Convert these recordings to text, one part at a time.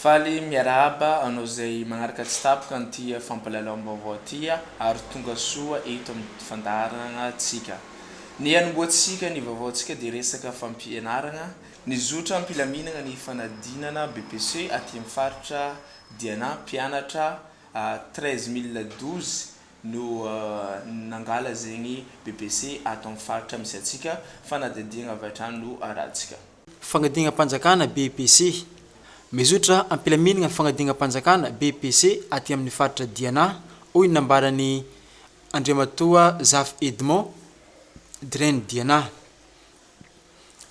Faly miarahaba anao izay manaraka tsy tapaka an'ity fampahalalam-baovao ity ary tonga soa eto amin'ny fandaharanantsika. Ny hanombohantsika ny vaovaontsika dia resaka fampianarana ny zotra am-pilaminana ny fanadinana BEPC aty amin'ny faritra dia na mpianatra treize mille douze no nangala zegny bbc ato amin'ny faritra misy antsika, fanadihadiagna avy hatrany no arahantsika. Fanadihagna-panjakana bbc, Mizotra am-pilaminagna ny fanadihagna-panjakana bbc aty amin'ny faritra Diana, hoy ny nambaran'i Andriamatoa Zafy Edmond, Dren Diana.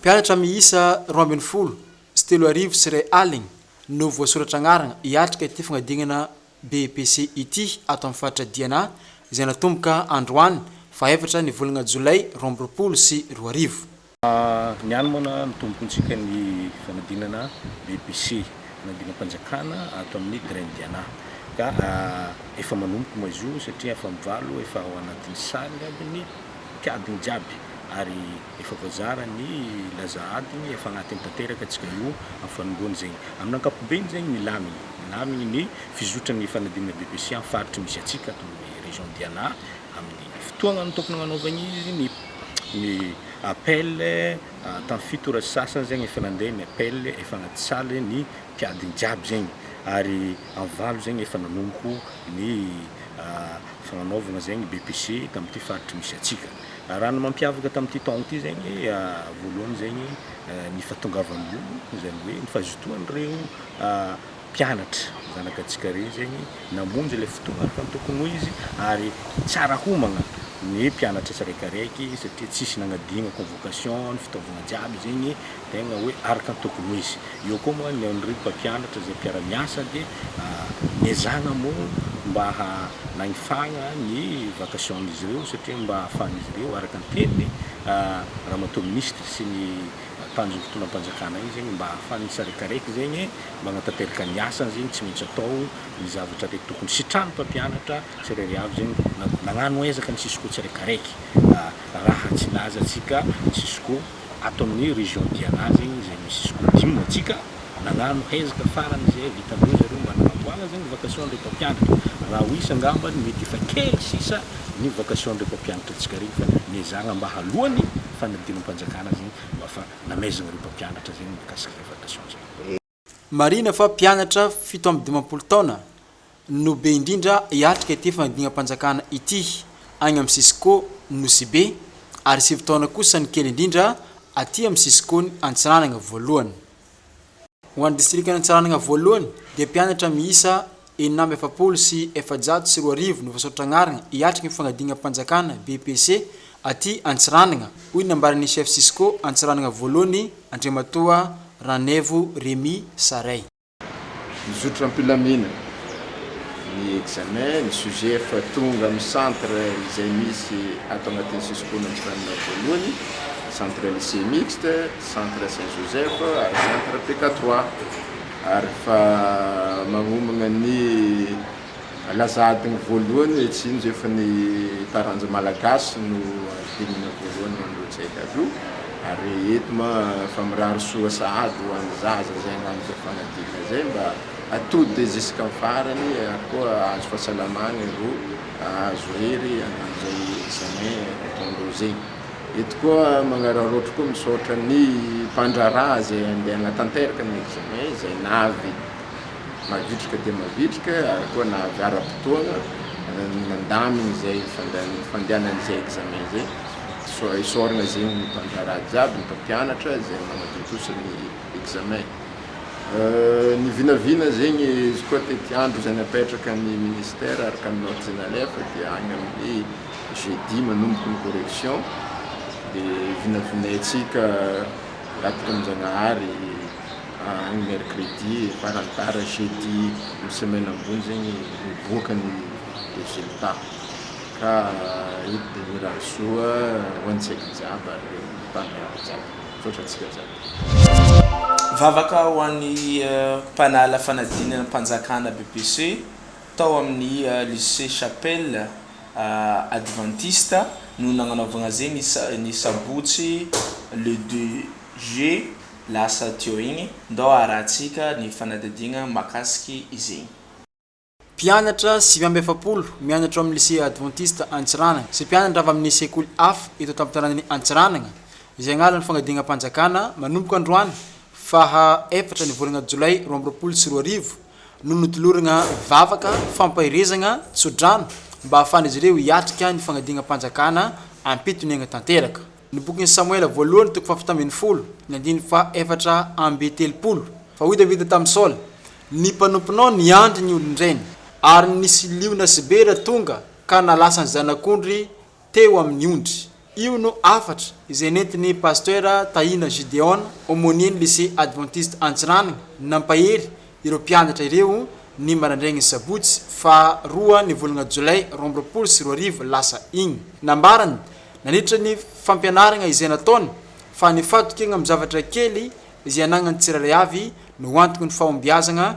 Mpianatra miisa roa ambin'ny folo sy telo arivo sy iray aligny no voasoratra agnarana hiatrika ity fagnadinana BEPC ity ato amin'ny faritra Diana izay natomboka androany faha efatra ny volagna jolay roa amby roapolo sy roa arivo. Niany moa na nitombontsika ny fanadinana BEPC, fanadinam-panjakana ato amin'ny Green Diana. Ka efa manomboka moa izy io satria afa-mivalo efa ao anatin'ny salle aby ny mpiadina jiaby ary efa voazara ny laza adiny efa agnatiny tanteraka tsika io am fanomboany zegny amin ankapobeny zegny milamigny milamigny ny fizotran'ny fanadinana BEPC am faritry misy atsika ato amin'ny région Diana amin'ny fotoagnany tokony agnanaovagny izy ny ny appel tam fito ora sy sasany zegny efa nandeha ny appel efa agnaty salle ny mpiadiny jiaby zegny ary am valo zegny efa nanomboka ny Efa nanaovana izay ny BPC tamin'ity faritry misy antsika. Raha ny mampiavaka tamin'ity taona ity izay ny voalohany izay ny ny fahatongavan'ny olo, izany hoe ny fazotoan'ireo mpianatra zanaka antsika ireny izay ny namonjy ilay fotoana araka ny tokony ho izy ary tsara homagna ny mpianatra tsiraikaraiky satria tsisy nagnadino convocation ny fitaovagna jiaby izay ny tegna hoe araka ny tokony ho izy. Eo koa moa ny an'ireo mpampianatra izay mpiara-miasa dia niezahana moa mba hanahifagna ny vacation-n'izy ireo satria mba hahafahan'izy ireo araka ny tenin'ny Ramatoa Minisitra sy ny Tanjogny Fitondram-panjakana igny zegny mba hahafahany tsiraikaraiky zegny magnatanteraka ny asany zegny tsy maintsy atao ny zavatra le tokony sitrahan'ny mpampianatra tsirairay avy zegny na- nagnano ezaka ny cisco tsiraikaraiky raha tsy laza antsika cisco Ato amin'ny région Diana izay misy sekoly dimy no antsika, nagnano hezaka farany izay vitan'ireo zareo mba nanamboara izay ny vacation an'ireo mpampianatra. Raha ho isa angamba ny mety efa kely sisa ny vacation an'ireo mpampianatra antsika ireny fa niezahana mba haloan'ny fanadinam-panjakana izay mba fa namaizina ireo mpampianatra izay ny mikasika izay vacation izay. Marihina fa mpianatra fito amby dimampolo taona no be indrindra hiatrika ity fanadinam-panjakana ity any amin'ny Cisco Nosibe ary sivy taona kosa ny kely indrindra aty amin'ny Cisco-n'i Antsiranana voalohany. Ho an'ny distrikan'Antsiranana voalohany dia mpianatra miisa Enina amby efapolo sy efajato sy roa arivo no voasoratra anarana hiatrika ny fanadinam-panjakana, BEPC, aty Antsiranana, hoy ny nambaran'ny Chef Cisco Antsiranana voalohany, Andriamatoa Ranaivo Remy Saray. Mizotra am-pilamina ny examen, ny sujet efa tonga amin'ny centre izay misy ato anatin'ny Cisco-n'ny Antsiranana voalohany, centre lycée mixte, centre Saint Joseph ary centre PK trois. ary fa magnomagna ny laza adiny voalohany etsy Sinjo efa ny taranja malagasy no adinina voalohany mandroa tsy hay kado ary eto ma fa mirary soa sahady ho any zaza zay agnano zay fanadinana zay mba atody ziska am farany ary koa ahazo fasalamagna ro ahazo hery agnano zay examen ataondreo zegny. Eto koa magnararaotra koa misaotra ny mpandraharaha izay andeha hanatanteraka ny examen izay nahavy mavitrika dia mavitrika ary koa nahavy ara-potoana nandamina izay fandehanana izay examen izay. Isaorana zegny ny mpandraharaha jiaby, ny mpampianatra izay manatontosa ny examen. Ny vinavina zegny izy koa tetiandro izay napetraka ny ministera araka ny notes nalefa dia agny amin'ny. Jeudi manomboka ny correction de vinavinaintsika Ratoramanjanahary any mercredi farany tara jeudi ny semaine ambony zegny miboaka ny resultat ka eto de mirary soa ho antsika jiaby ary mpandraharaha jiaby misaotra antsika jiaby. Vavaka ho an'ny mpanala fanadinana am-panjakana, BEPC, tao amin'ny Lycée Chapelle advantista no nagnanaovagna zegny ny sabotsy le deux juillet lasa teo igny, ndao harahantsika ny fanadihadiagna mahakasiky izegny. Mpianatra sivy amby efapolo mianatra ao amin'ny Lycée Adventiste Antsiranana sy mpianatra avy amin'ny sekoly hafa eto an-tampon-tanànan'i Antsiranana izay agnarany Fanadihagna-mpanjakana manomboka androany faha efatra ny volagna jolay roa amby roapolo sy roa arivo, no notolorana vavaka fampaherezagna tsodrano mba hahafahan'izy ireo hiatrika ny fanadinam-panjakana am-pitoniagna tanteraka. Ny bokin'i Samoela voalohany toko fahafito ambin'ny folo, ny andininy fahaefatra amby telopolo. Fa hoy Davida tamin'i Saoly, Ny mpanomponao niandry ny olon-drainy, ary nisy liona sy bera tonga ka nalasa ny zanak'ondry teo amin'ny ondry. Io no hafatra izay nentin'ny Pasteur Tahina Gideon, Aumônier-n'ny Lycée Adventiste Antsiranana, nampahery ireo mpianatra ireo ny maraindrain'ny sabotsy faha roa ny volana jolay roa amby roapolo sy roa arivo lasa iny. Nambarany, nandritra ny fampianarana izay nataony, fa ny fahatokegna amin'ny zavatra kely izay anagnan'ny tsirairay avy no antogn'ny fahombiazagna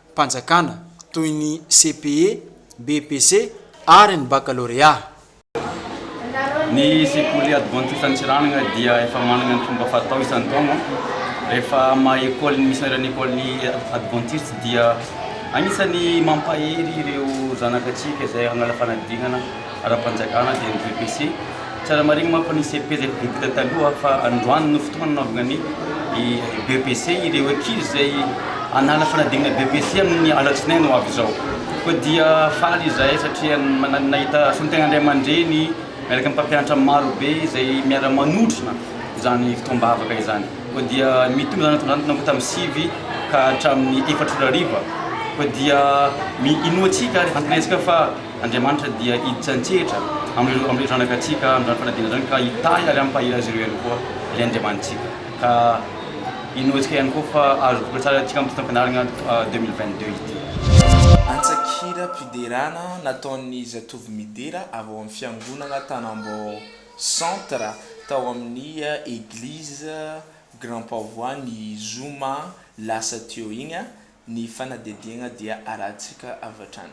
mpanjakana toy ny CPE, BEPC ary ny bakalorea. Ny sekoly Advantista Antsiranana dia efa manana ny fomba fatao isan-taona rehefa maha Ecole ny Missionnaire ny Ecole Advantista dia anisan'ny mampahery ireo zanaka antsika izay hanala fanadinana ara-panjakana dia ny VPC. Tsara marihina manko fa nisy pejy bitika taloha fa androany no fotoana nanaovana ny BEPC ireo ankizy izay hanala fanadinana BEPC amin'ny alatsinainy ho avy izao. Koa dia faly izahay satria nahita soa ny tena ray aman-dreny miaraka amin'ny mpampianatra maro be izay miara-manotrona izany fotoam-bavaka izany. Koa dia mitombo izany hatramin'izany nanomboka tamin'ny sivy ka hatramin'ny efatra ora hariva. Koa dia inoantsika ary antenaintsika fa. Andriamanitra dia hiditra an-tsehatra amin'ireo amin'ireo zanakatsika amin'izany fanadinana izany ka hitahy ary hampahery azy ireo ihany koa ilay Andriamanitsika ka inoantsika ihany koa fa azo voka tsara antsika amin'ity taom-pianarana deux mille vingt deux ity. Antsakiram-piderana nataon'ny zatovo midera avy ao amin'ny fiangonana Tanambao centre tao amin'ny eglizy Grand Pavois ny zoma lasa teo iny ny fanadihadiana dia arahintsika avy hatrany.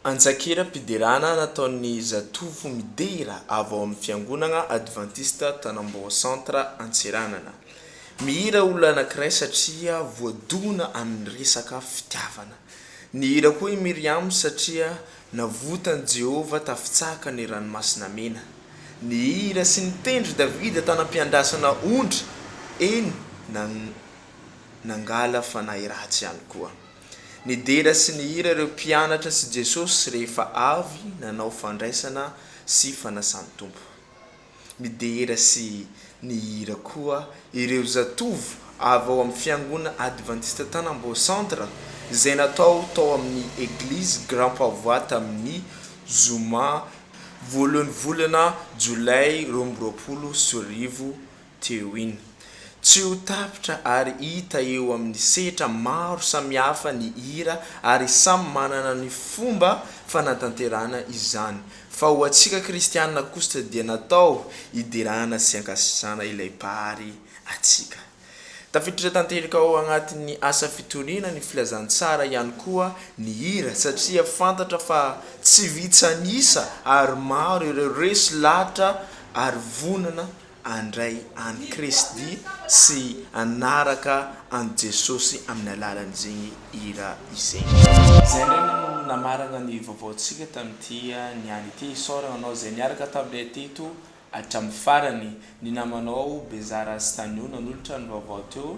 Antsakeram-piderana nataon'ny zatovo midera avy ao amin'ny Fiangonana Advantista Tanambao Centre Antsiranana. Mihira olona anankiray satria voadona amin'ny resaka fitiavana. Nihira koa i Myriam satria navotan'i Jehovah tafitsaka ny Ranomasina Mena. Nihira sy nitendry Davida tanam-piandrasana ondry, eny na nangala fanahy ratsy ihany koa. Nidera sy nihira ireo mpianatra sy Jesosy rehefa avy nanao fandraisana sy fanasan-tompo. Midera sy nihira koa ireo zatovo avy ao amin'ny Fiangonana Advantista Tanambao Centre izay natao tao amin'ny Eglizy Grand Pavois tamin'ny zoma voalohan'ny volana Jolay roa amby roapolo sy roa arivo Teo iny. Tsy ho tapitra ary hita eo amin'ny sehtra maro samihafa ny hira ary samy manana ny fomba fanatanterahana izany. Fa ho antsika kristianina kosa dia natao hiderana sy hankasitrahana ilay Mpahary antsika. Tafiditra tanteraka ao anatin'ny asa fitoriana ny filazantsara ihany koa ny hira satria fantatra fa tsy vitsy an'isa ary maro ireo resy lahatra ary vonona handray an'i Kristy sy hanaraka an'i Jesosy amin'ny alalan'izegny hira izegny. Zay indray no namaragna ny vaovaontsika tamin'ity niany ity. Isaoragna anao zay niaraka taminay teto hatramin'ny farany. Ny namanao Bezara Stanio nanolotra ny vaovao teo